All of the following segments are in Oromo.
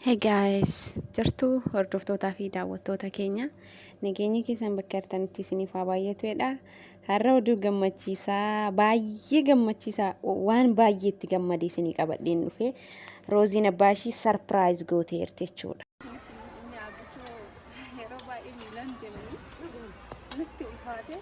Hey guys, jirtuu hordoftootaa fi daawwattoota keenya nageenyi keessan bakka jirtanitti isiniif haa baay'atuudha. Har'a oduu gammachiisaa baay'ee gammachiisaa waan baay'ee itti gammade isinii qabadheen dhufe Rooziin abbaa ishii sarpiraayiz gooteerti jechuudha. Yeroo baay'ee miilaan deemanii natti ulfaate.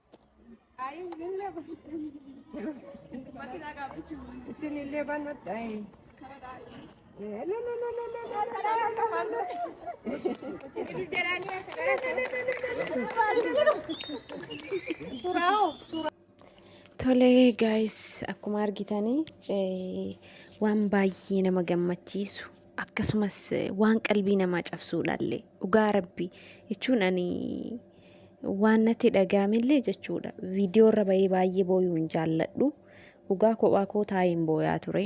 Isinillee banadha. Tolee guys akkuma argitanii waan baay'ee nama gammachiisu. akkasumas waan qalbii namaa cabsuudhaallee dhugaa rabbi jechuun ani waan natti dhaga'amellee jechuudha viidiyoo irra bahee baay'ee booyuu hin jaalladhu dhugaa kophaa koo taa'een booyaa ture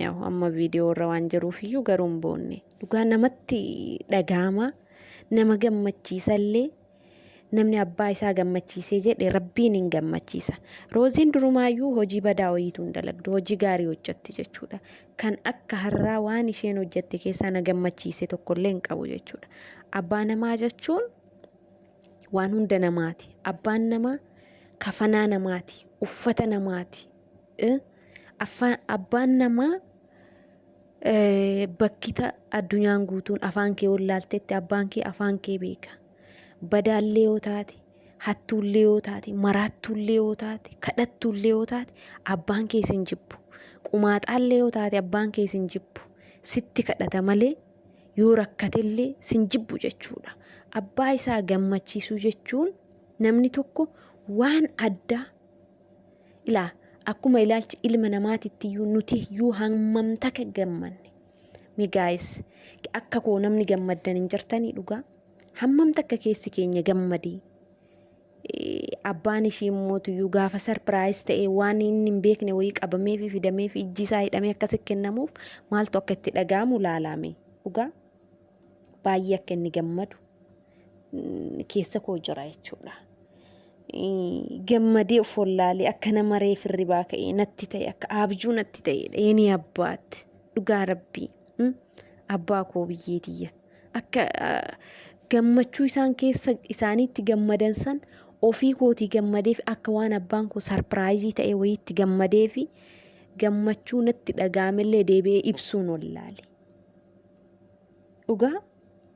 yaa'u amma viidiyoo irra waan jiruufiyyuu garuu hin boonne dhugaa namatti dhaga'ama nama gammachiisallee Namni abbaa isaa gammachiisee jedhe rabbiin hin gammachiisa. Rooziin durumaayyuu hojii badaa wayiitu hin dalagdu. Hojii gaarii hojjetti jechuudha. Kan akka har'aa waan isheen hojjette keessaa na gammachiise tokkollee hin qabu jechuudha. Abbaa namaa jechuun waan hunda namaati. Abbaan namaa kafanaa namaati, uffata namaati, Abbaan namaa bakkita addunyaan guutuun afaan kee wallaaltetti abbaan kee afaan kee beeka. Badaallee yoo taate, hattuullee yoo taate, maraattuullee yoo taate, kadhattuullee yoo taate abbaan kee sin jibbu. Qumaaxaallee yoo taate abbaan kee sin jibbu. Sitti kadhata malee yoo rakkatellee sin jibbu jechuudha. Abbaa isaa gammachiisuu jechuun namni tokko waan addaa Ilaa akkuma ilaalchi ilma namaatitti iyyuu nuti iyyuu hammam takka gammanne. Mi gaayis akka koo namni gammaddan hin jirtanii dhugaa hammam takka keessi keenya gammadee. Abbaan ishii immoo iyyuu gaafa sarpiraayis ta'ee waan inni hin beekne wayii qabamee fi fidamee fi ijji isaa hidhamee akkasi kennamuuf maaltu akka itti dhaga'amu laalaame dhugaa baay'ee akka inni gammadu. keessa koo jira jechuudha. Gammadee of wallaalee akka nama reef hirribaa ka'ee natti ta'e akka abjuu natti ta'edha. Yeni abbaat dhugaa rabbii abbaa koo biyyee tiyya akka gammachuu isaan keessa isaaniitti gammadan san ofii kootii gammadeef akka waan abbaan koo sarpiraayizii ta'ee wayiitti gammadee fi gammachuu natti dhaga'amellee deebi'ee ibsuun wallaale. Dhugaa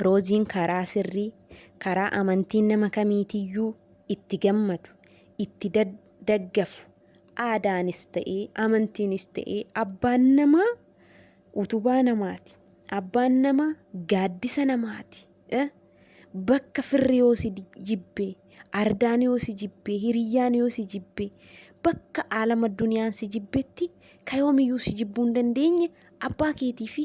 Rooziin karaa sirrii, karaa amantiin nama kamiitiyyuu itti gammadu, itti daggafu, aadaanis ta'ee, amantiinis ta'ee abbaan namaa utubaa namaati. Abbaan namaa gaaddisa namaati. Bakka firri yoo si jibbee, ardaan yoo si jibbee, hiriyyaan yoo si jibbee, bakka aalama duniyaan si jibbetti ka yoomiyyuu si jibbuu hin dandeenye abbaa keetii fi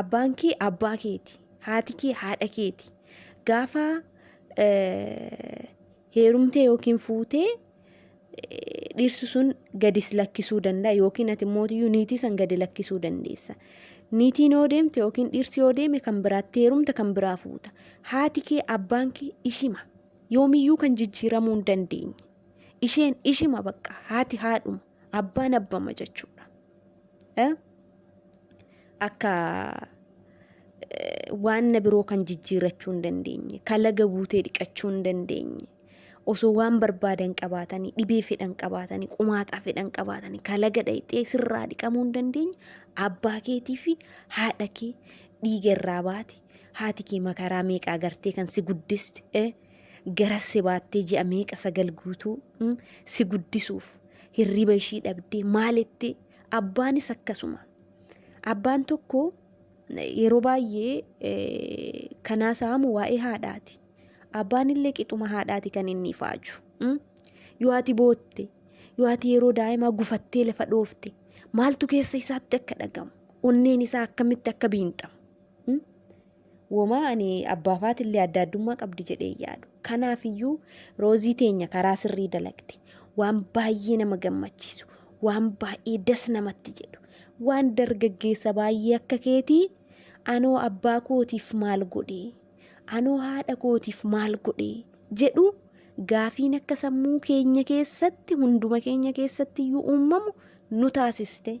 abbaan kee abbaa keeti haati kee haadha keeti gaafa eh, heerumtee yookiin fuutee eh, dhirsi sun gadis lakkisuu danda'a yookiin ati mootiyyuu niitii san gadi lakkisuu dandeessa. Niitiin yoo deemte yookiin dhirsi yoo deeme kan biraatti heerumta kan biraa fuuta. Haati kee abbaan kee ishima. Yoomiyyuu kan jijjiiramuu hin dandeenye. Isheen ishima bakka haati haadhuma. Abbaan abbama jechuudha. Eh? Akka eh, waan na biroo kan jijjiirrachuu hin dandeenye, kalaga buutee dhiqachuu hin dandeenye, osoo waan barbaadan qabaatanii, dhibee fedhan qabaatanii, qumaaxaa fedhan qabaatanii, kalaga dhayxee sirraa dhiqamuu hin dandeenye, abbaa keetii fi haadha kee dhiiga irraa baate, haati kee makaraa meeqa agartee kan si guddiste, eh? Garas si baattee ji'a meeqa sagal guutuu mm, si guddisuuf hirriba ishii dhabdee maalitti abbaanis akkasuma. Abbaan tokko eh, yeroo baay'ee eh, kan haasa'amu waa'ee haadhaati. Abbaan illee qixuma haadhaati kan inni ifaaju. mm. Yoo ati bootte, yoo ati yeroo daa'imaa gufattee lafa dhoofte, maaltu keessa isaatti akka dhagamu, onneen isaa akkamitti akka biinxamu. mm. Womaa ani abbaafaatillee adda addummaa qabdi jedhee yaadu. Kanaafiyyuu roozii teenya karaa sirrii dalagde. Waan baay'ee nama gammachiisu, waan baay'ee das namatti jedhu, waan dargaggeessa baay'ee akka keetii anoo abbaa kootiif maal godhe, anoo haadha kootiif maal godhe jedhu gaafiin akka sammuu keenya keessatti hunduma keenya keessatti iyyuu uumamu nu taasiste.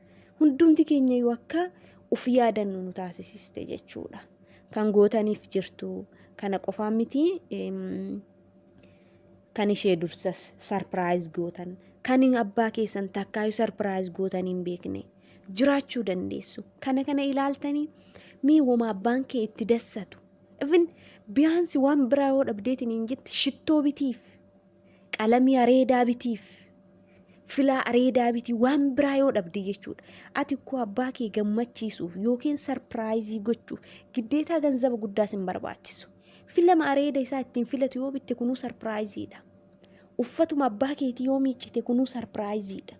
hundumti keenya iyyuu akka uf yaadannu nu taasisiste jechuudha. Kan gootaniif jirtu kana qofaa miti kan ishee dursas sarpiraayiz gootan kan abbaa keessan takkaayu sarpiraayiz gootan hin beekne jiraachuu dandeessu. Kana kana ilaaltanii mee woma abbaan kee itti dassatu. Ifin biyaansi waan biraa yoo dhabdeetiin hin jette shittoo bitiif. qalamii areedaa bitiif filaa areedaa bitii waan biraa yoo dhabde jechuudha ati koo abbaa kee gammachiisuuf yookiin sarpiraayizii gochuuf giddeetaa ganzaba guddaas hin barbaachisu filama areeda isaa ittiin filatu yoo bitte kunuu sarpiraayiziidha uffatuma abbaa keetii yoo miiccite kunuu sarpiraayiziidha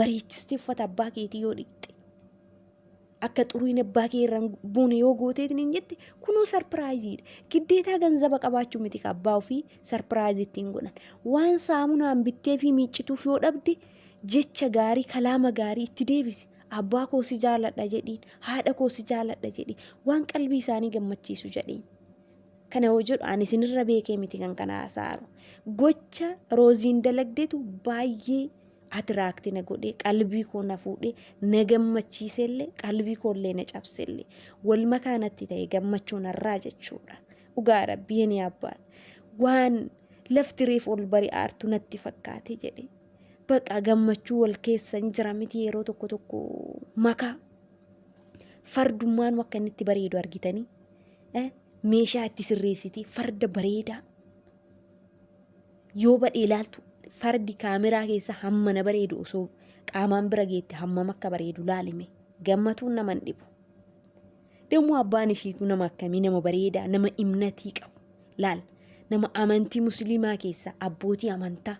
bareechistee uffata abbaa keetii yoo dhiqxe akka xuriin abbaa kee irraan buune yoo gooteetiin hin jette kunuu sarpiraayiziidha. Giddeetaa ganzaba qabaachuu miti ka abbaa ofii sarpiraayizii ittiin godhan. Waan saamunaan bittee fi miiccituuf yoo dhabde jecha gaarii kalaama gaarii itti deebisi. Abbaa koo si jaaladha jedhiin haadha koo si jaaladha jedhiin waan qalbii isaanii gammachiisu jedhiin. Kana yoo jedhu ani isinirra beekee miti kan kana haasa'aaru. Gocha rooziin dalagdeetu baay'ee atiraakti na godhee qalbii koo na fuudhee na gammachiisellee qalbii koollee na cabsellee wal makaa natti ta'e gammachuu narraa jechuudha. Dhugaa rabbi yeni abbaat waan lafti reef ol bari aartu natti fakkaate jedhe. Baqa gammachuu wal keessan jira miti yeroo tokko tokko makaa fardummaan akka inni itti bareedu argitanii meeshaa itti sirreessiti farda bareedaa yoo badhee ilaaltu fardi kaameraa keessa hammana bareedu osoo qaamaan bira geette hammam akka bareedu laalime gammatuun nama hin dhibu. Dammoo abbaan ishiitu nama akkamii nama bareedaa nama imnatii qabu laal nama amantii musliimaa keessa abbootii amantaa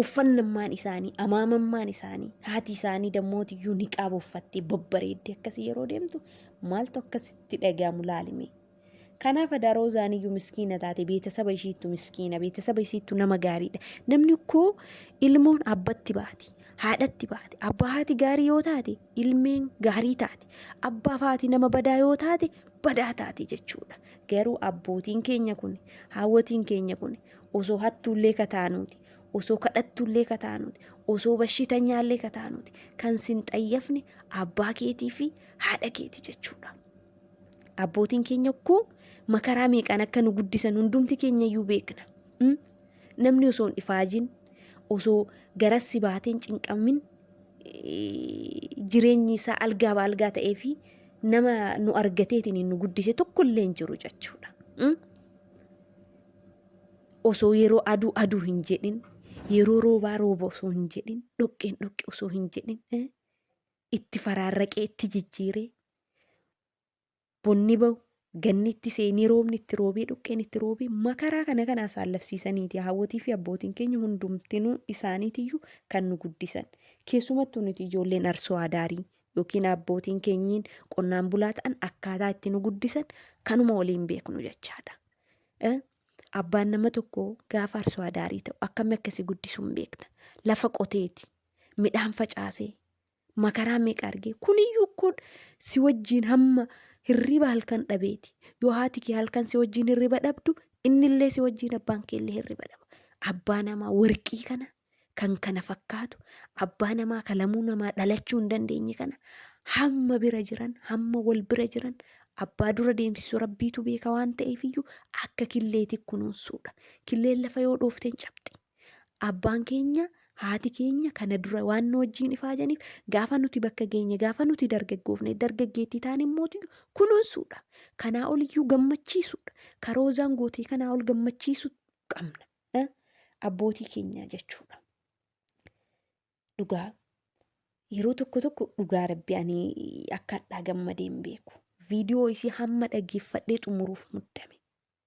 uffannammaan isaanii amaamammaan isaanii haati isaanii dammootiyyuu niqaaba uffattee babbareedde akkasii yeroo deemtu maaltu akkasitti dhaga'amu laalime Kanaaf adaa Roozaan iyyuu miskiina taate beetasaba ishiittu miskiina beetasaba isiittu nama gaariidha. Namni koo ilmoon abbatti baati haadhatti baati abbaa haati gaarii yoo taate ilmeen gaarii taate abbaaf haati nama badaa yoo taate badaa taate jechuudha. Garuu abbootiin keenya kun haawwatiin keenya kun osoo hattuullee kataanuuti osoo kadhattuullee kataanuuti osoo bashitanyaallee kataanuuti kan sin xayyafne abbaa keetii fi haadha keeti jechuudha. Abbootiin keenya koo makaraa meeqaan akka nu guddisan hundumti keenya iyyuu beekna. Mm? Namni osoo hin ifaajin, osoo garas si baatee hin cinqamin, eh, jireenyi isaa algaa ba algaa ta'ee fi nama nu argateetiin nu guddise tokko illee hin jiru jechuudha. Mm? osoo yeroo aduu aduu hin jedhin yeroo roobaa rooba osoo hin jedhin dhoqqeen dhoqqe osoo hin jedhin eh, itti faraarraqee itti jijjiiree bonni ba'u ganni itti seenee roobni itti roobee dhoqqeen itti roobee makaraa kana kana asaallafsiisaniiti haawwotii fi abbootiin keenya hundumtinuu isaaniitiyyuu kan nu guddisan keessumattuu nuti ijoolleen arsoo adaarii yookiin abbootiin keenyiin qonnaan bulaa ta'an akkaataa itti nu guddisan kanuma waliin beeknu jechaadha. Eh, Abbaan nama tokko gaafa arsoo adaarii ta'u akkamii akkasii guddisuun beekta lafa qoteeti midhaan facaasee makaraa meeqa argee kuniyyuu kun si wajjiin hamma hirriba halkan dhabeeti yoo haati kee halkan si wajjiin hirriba dhabdu innillee si wajjiin abbaan keellee hirriba dhaba abbaa namaa warqii kana kan kana fakkaatu abbaa namaa kalamuu namaa dhalachuu hin dandeenye kana hamma bira jiran hamma wal bira jiran abbaa dura deemsisu rabbiitu beeka waan ta'eefiyyuu akka killeeti kunuunsuudha killeen lafa yoo dhoofteen cabxi Abbaan keenya haati keenya kana dura waan nu wajjiin ifaajaniif gaafa nuti bakka geenye gaafa nuti dargaggoofne dargaggeettii taan immoo kunuunsuudha. Kanaa ol iyyuu gammachiisuudha. Karoozaan gootee kanaa ol gammachiisuu qabna. Eh? Abbootii keenyaa jechuudha. Dhugaa yeroo tokko tokko dhugaa rabbi ani akka hadhaa gammadee hin beeku. Viidiyoo isii hamma dhageeffadhee xumuruuf muddame.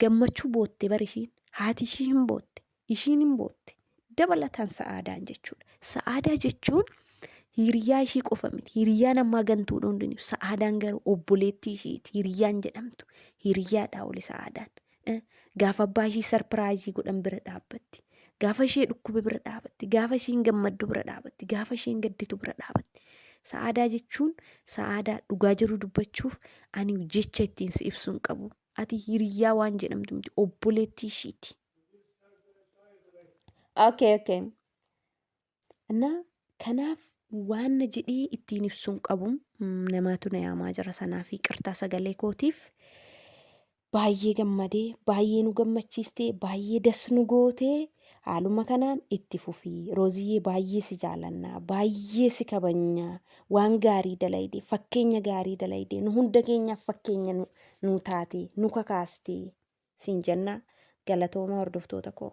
Gammachuu bootte bar ishiin. Haati ishii hin bootte. Ishiin hin bootte. Dabalataan sa'aadaan jechuudha. Sa'aadaa jechuun hiriyaa ishii qofa miti. Hiriyaan ammaa gantuudha hundinuu. Sa'aadaan garuu obboleettii ishiiti. Hiriyaan jedhamtu. Hiriyaadhaa oli sa'aadaan. Eh, Gaafa abbaa ishii sarpiraayizii godhan bira dhaabbatti. Gaafa ishee dhukkube bira dhaabatti. Gaafa isheen gammaddu bira dhaabatti. Gaafa isheen gadditu bira dhaabatti. Sa'aadaa jechuun sa'aadaa dhugaa jiru dubbachuuf ani jecha ittiin si ibsu hin qabu. Ati hiriyyaa waan jedhamtu miti obboleettii ishiiti. Okay, okay. እና kanaaf waan na jedhee ittiin ibsuun qabu namaatu na yaamaa jira sanaaf qirtaa sagalee kootiif baay'ee gammadee baay'ee nu gammachiistee baay'ee das nu gootee haaluma kanaan itti fufii rooziyyee baay'ee si jaalannaa baay'ee si kabajnaa waan gaarii dalayde fakkeenya gaarii dalayde nu hunda keenyaaf fakkeenya nu, nu taate nu kakaaste siin jenna galatooma hordoftoota koo.